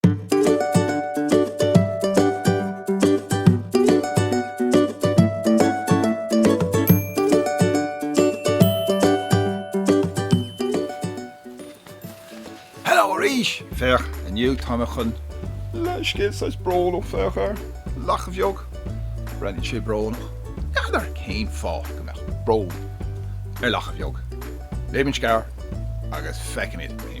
Hello arís! inniu tá mé chun léamh scéal saghas brónach, féach ar, lacha bheag, breathnaíonn sé brónach, n'fheadar cén fáth go mbeadh brón ar lacha bheag. Léimis an scéal agus feicimid an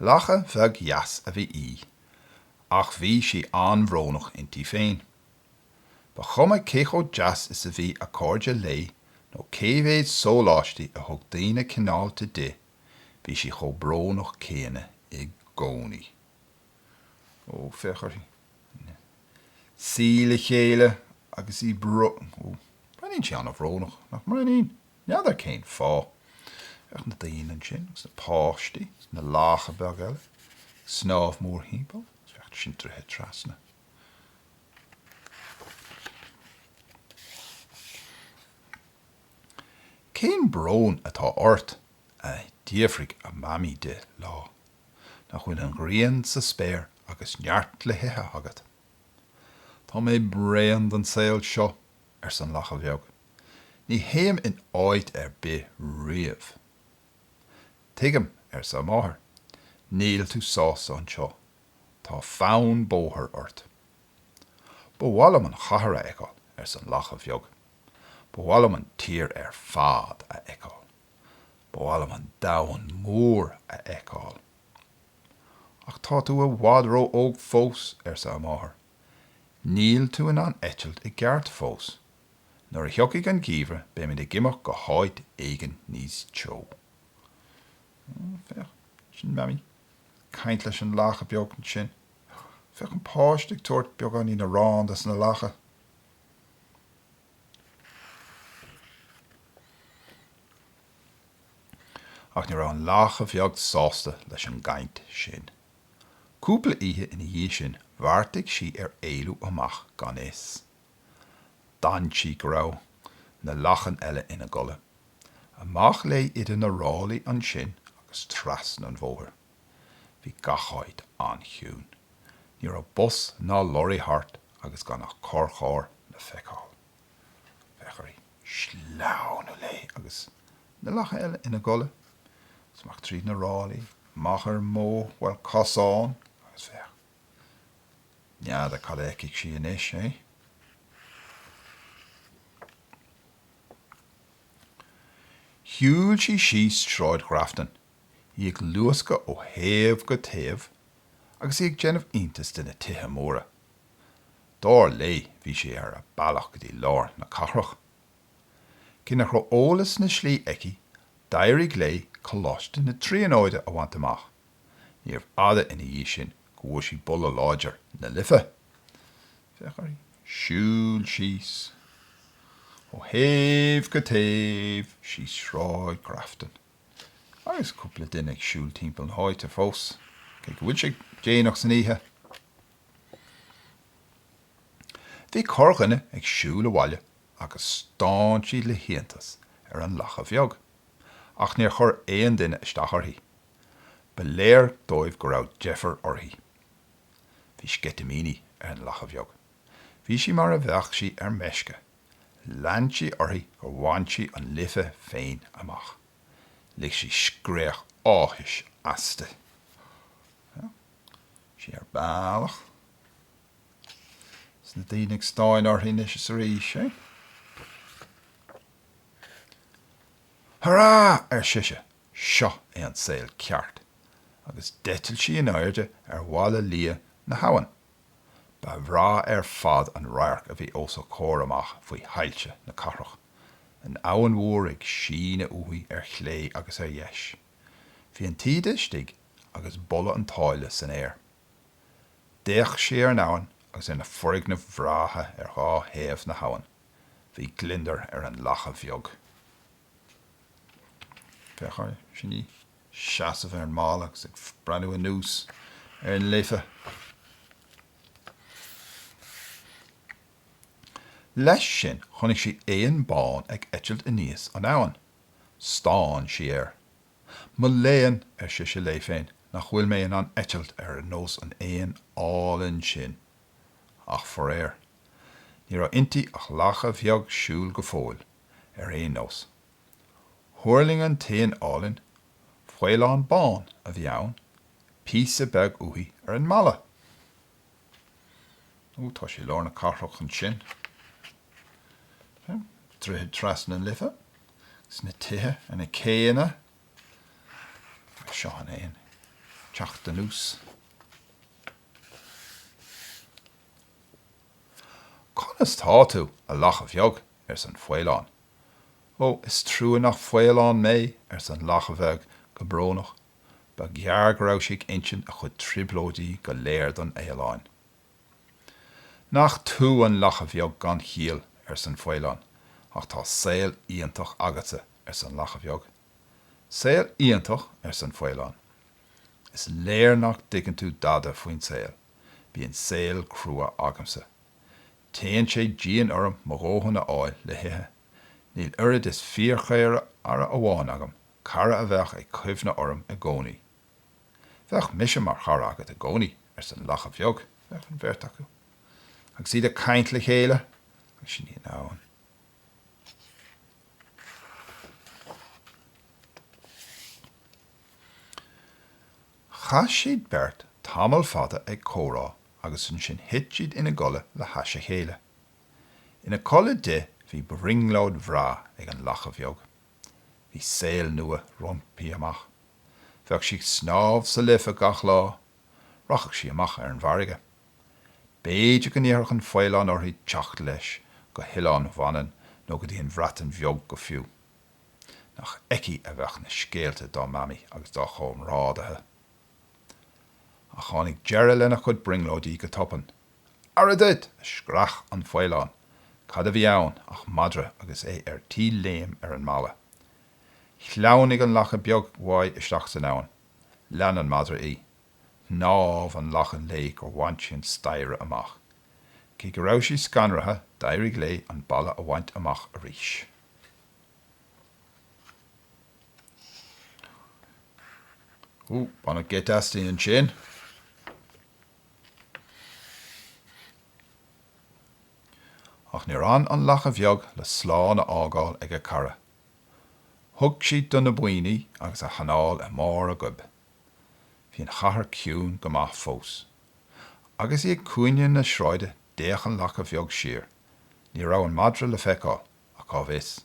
Lacha bheag dheas a bhí í, ach bhí sí an-bhrónach inti féin. Ba chuma cé chomh deas is a bhí a cairde léi nó cé mhéid sóláistí a thug daoine cineálta di, bhí sí chomh brónach céanna i gcónaí. Ó, féach uirthi. Súile chéile agus í. Ó, breathnaíonn sí an-bhrónach, nach mbreathnaíonn? N'fheadar cén fáth. Féach na daoine ansin, agus na páistí, agus na lacha beag eile, ag snámh mórthimpeall, sin tuirseach trasna. Cén brón atá ort? a d'fhiafraigh a Mamaí di lá. Nach bhfuil an ghrian sa spéir agus neart le hithe agat? Tá mé bréan den saol seo, arsa an lacha bheag. Ní théim in áit ar bith riamh. Tuigim, arsa a máthair. Níl tú sásta anseo. Tá fonn bóthair ort. Ba mhaith liom an chathair a fheiceáil, arsa an lacha bheag. Ba mhaith liom an tír ar fad a fheiceáil. Ba mhaith liom an domhan mór a fheiceáil. Ach tá tú i bhfad ró-óg fós, arsa a máthair. Níl tú in ann eitilt i gceart fós. Nuair a thiocfaidh an geimhreadh beimid ag imeacht go háit éigin níos teo. Féach, sin Mamaí ag caint leis an lacha bheag ansin. Féach an páiste ag tabhairt beagáinín arán dos na lacha. Ach ní raibh an lacha bheag sásta leis an gcaint sin. Cúpla oíche ina dhiaidh sin bheartaigh sí ar éalú amach gan fhios. D'fhan sí go raibh na lachain eile ina gcodladh. Amach léi idir na ráillí ansin agus trasna an bhóthair. Bhí gach áit an-chiúin. Ní raibh bus ná lorraí thart agus gan ach corrcharr le feiceáil. bheadh uirthi sleamhnú léi agus na lachain eile ina gcodladh, is amach tríd na ráillí, amach ar an mbóthar, bhuel, cosán, agus féach, n'fheadar cad a fheicfidh sí anois, eh? Shiúil sí síos Sráid Ghrafton, í ag luascadh ó thaobh go taobh agus í ag déanamh iontais de na tithe móra, Dar léi, bhí sí ar a bealach go dtí lár na cathrach. Cé nach raibh eolas na slí aici, d'éirigh léi Coláiste na Tríonóide a bhaint amach. Níorbh fhada ina dhiaidh sin go bhfuair sí boladh láidir na Life. Féach uirthi siúl síos ó thaobh go taobh síos Sráid Grafton. Agus cúpla duine ag siúl timpeall na háite fós, cé go bhfuil sé déanach san oíche. Bhí corrdhuine ag siúl abhaile agus stánaidís le hiontas ar an lacha bheag, ach níor chuir aon duine isteach uirthi. Ba léir dóibh go raibh deifir uirthi. Bhí sceitimíní ar an lacha bheag. Bhí sí mar a bheadh sí ar meisce. Lean sí uirthi gur bhain sí an Life féin amach. Lig sí scréach áthais aisti. sí ar a bealach. Is na daoine ag stánadh uirthi anois is arís eh. Hurá! ar sise, seo é an saol ceart, agus d'eitil sí in airde ar bhalla liath na habhann. Ba bhreá ar fad an radharc a bhí os a comhair amach faoi shoilse na cathrach, an Abhainn Mhór ag síneadh uaithi ar chlé agus ar dheis. Bhí an taoide istigh agus boladh an tsáile san aer. D'fhéach sí ar an abhainn agus ar na foirgnimh bhreátha ar dhá thaobh na habhann. Bhí gliondar ar an lacha bheag. Féach uirthi ansin ina seasamh ar an mballa agus ag breathnú anuas ar an Life. Leis sin chonaic sí éan bán ag eitilt aníos an abhainn. Stán sí air. Mo léan, ar sise léi féin, nach bhfuil mé in ann eitilt ar nós an éin álainn sin! Ach faraor, ní raibh inti ach lacha bheag siúil go fóill, ar aon nós. Thuirling an t-éan álainn, faoileán bán a bhí ann, píosa beag uaithi ar an mballa. Ó, tá sé i lár na cathrach ansin. Droichead trasna na Life. Is na tithe ar na céanna. Seo an t-éan ag teacht anuas. Conas tá tú, a lacha bheag? arsa an faoileán. Ó, is trua nach faoileán mé, arsa an lacha bheag go brónach, ba ghearr go raibh sé ag insint a chuid trioblóidí go léir don fhaoileán. Nach tú an lacha bheag gan chiall, arsa an faoileán, ach tá saol iontach agatsa, arsa an lacha bheag. Saol iontach? arsa an faoileán. Is léir nach dtuigeann tú dada faoin saol. Bíonn saol crua agamsa. Téann sé dian orm mo dhóthain a fháil le hithe. Níl oiread is fíorchara amháin agam, cara a bheadh ag cuimhneadh orm i gcónaí. Bheadh mise mar chara agat i gcónaí, arsa an lacha bheag. Bheadh an bheirt acu agus iad ag caint le chéile agus sin í an abhainn. Chaith siad beirt tamall fada ag comhrá agus ansin thit siad ina gcodladh le hais a chéile. Ina codladh di bhí brionglóid bhreá ag an lacha bheag. Bhí saol nua roimpi amach. Bheadh sí ag snámh sa Life gach lá. Rachadh sí amach ar an bhfarraige. B'fhéidir go n-iarrfadh an faoileán uirthi teacht leis go hOileán Mhanann nó go dtí an Bhreatain Bheag go fiú. Nach aici a bheadh na scéalta dá Mamaí agus dá chomrádaithe! Ach tháinig deireadh lena cuid brionglóidí go tobann. Aire duit! a screach an faoileán. Cad a bhí ann ach madra agus é ar tí léim ar an mballa. Shleamhnaigh an lacha bheag uaidh isteach san abhainn. Lean an madra í. Shnámh an lacha léi gur bhain sí an staighre amach. Cé go raibh sí scanraithe, d'éirigh léi an balla a bhaint amach arís. Baineadh geit aisti ansin. Ach níor fhan an lacha bheag le slán a fhágáil ag a cara. Thug sí do na boinn í agus a hanál i mbarr a goib. Bhí an chathair ciúin go maith fós. Agus í ag cúinne na sráide d'fhéach an lacha bheag siar. Ní raibh an madra le feiceáil, ach cá bhfios?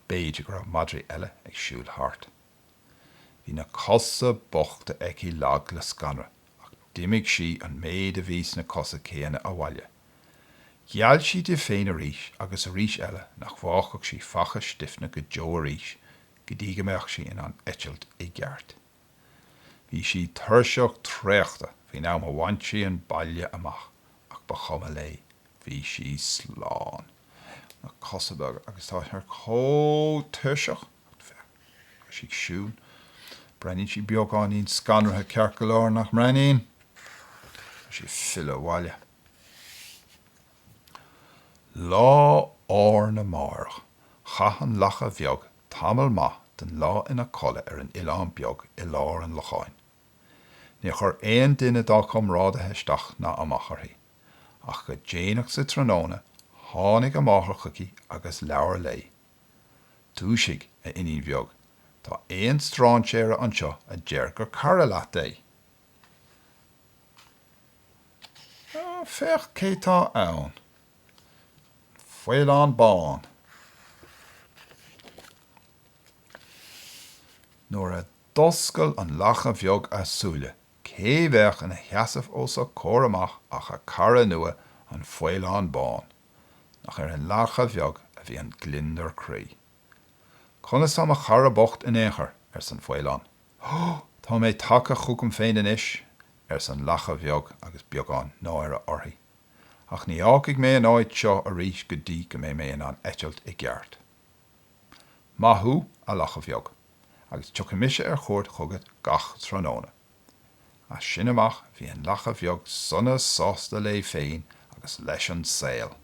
b'fhéidir go raibh madraí eile ag siúl thart. Bhí na cosa bochta aici lag le scanradh ach d'imigh sí an méid a bhí sna cosa céanna abhaile. Gheall sí di féin arís agus arís eile nach bhfágfadh sí Faiche Stiefna go deo arís go dtí go mbeadh sí in ann eitilt i gceart. Bhí sí tuirseach traochta faoin am a bhain sí an baile amach ach ba chuma léi, bhí sí slán. Na cosa beaga agus tá sé chomh tuirseach. Is í ag siúl. Breathnaíonn sí beagáinín scanraithe ceart go leor, nach mbreathnaíonn? Is í ag filleadh abhaile. Lá arna mhárach chaith an lacha bheag tamall maith den lá ina codladh ar an oileán beag i lár an locháin. Níor chuir aon duine dá comrádaithe isteach ná amach uirthi. Ach go déanach sa tráthnóna tháinig a máthair chuici agus labhair léi. Dúisigh, a iníon bheag, tá éan strainséara anseo a deir gur cara leat é. Féach cé tá ann. An faoileán bán. Nuair a d'oscail an lacha bheag a súile, cé bheadh ina sheasamh os a comhair amach ach a cara nua, an faoileán bán. nach ar an lacha bheag a bhí an gliondar croí. Conas tá mo chara bocht in aon chor? arsa an faoileán. Tá mé tagtha chugam féin anois, arsa an lacha bheag agus beagán náire uirthi. Ach ní fhágfaidh mé an áit seo arís go dtí go mbeidh mé in ann eitilt i gceart. Maith thú, a lacha bheag, agus tiocfaidh mise ar chuairt chugat gach tráthnóna. As sin amach bhí an lacha bheag sona sásta léi féin agus leis an saol.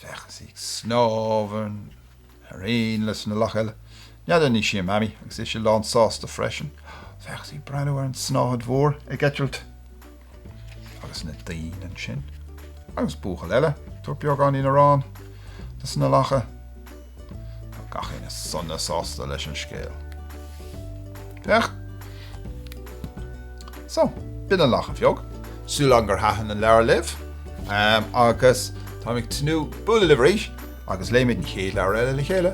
Féach, is í ag snámh mar aon leis na lacha eile. N'fheadar an í sin a Mamaí agus ise lán sásta freisin. Féach, is í ag breathnú ar an snáthaid mhór ag eitilt. agus na daoine ansin, agus buachaill eile ag tabhairt beagáinín aráin dos na lacha. Gach éinne sona sásta leis an scéal. Féach! So, b'in an lacha bheag. Súil agam gur thaitin an leabhar libh, agus táim ag tnúth bualadh libh arís agus léifimid an chéad leabhar eile le chéile.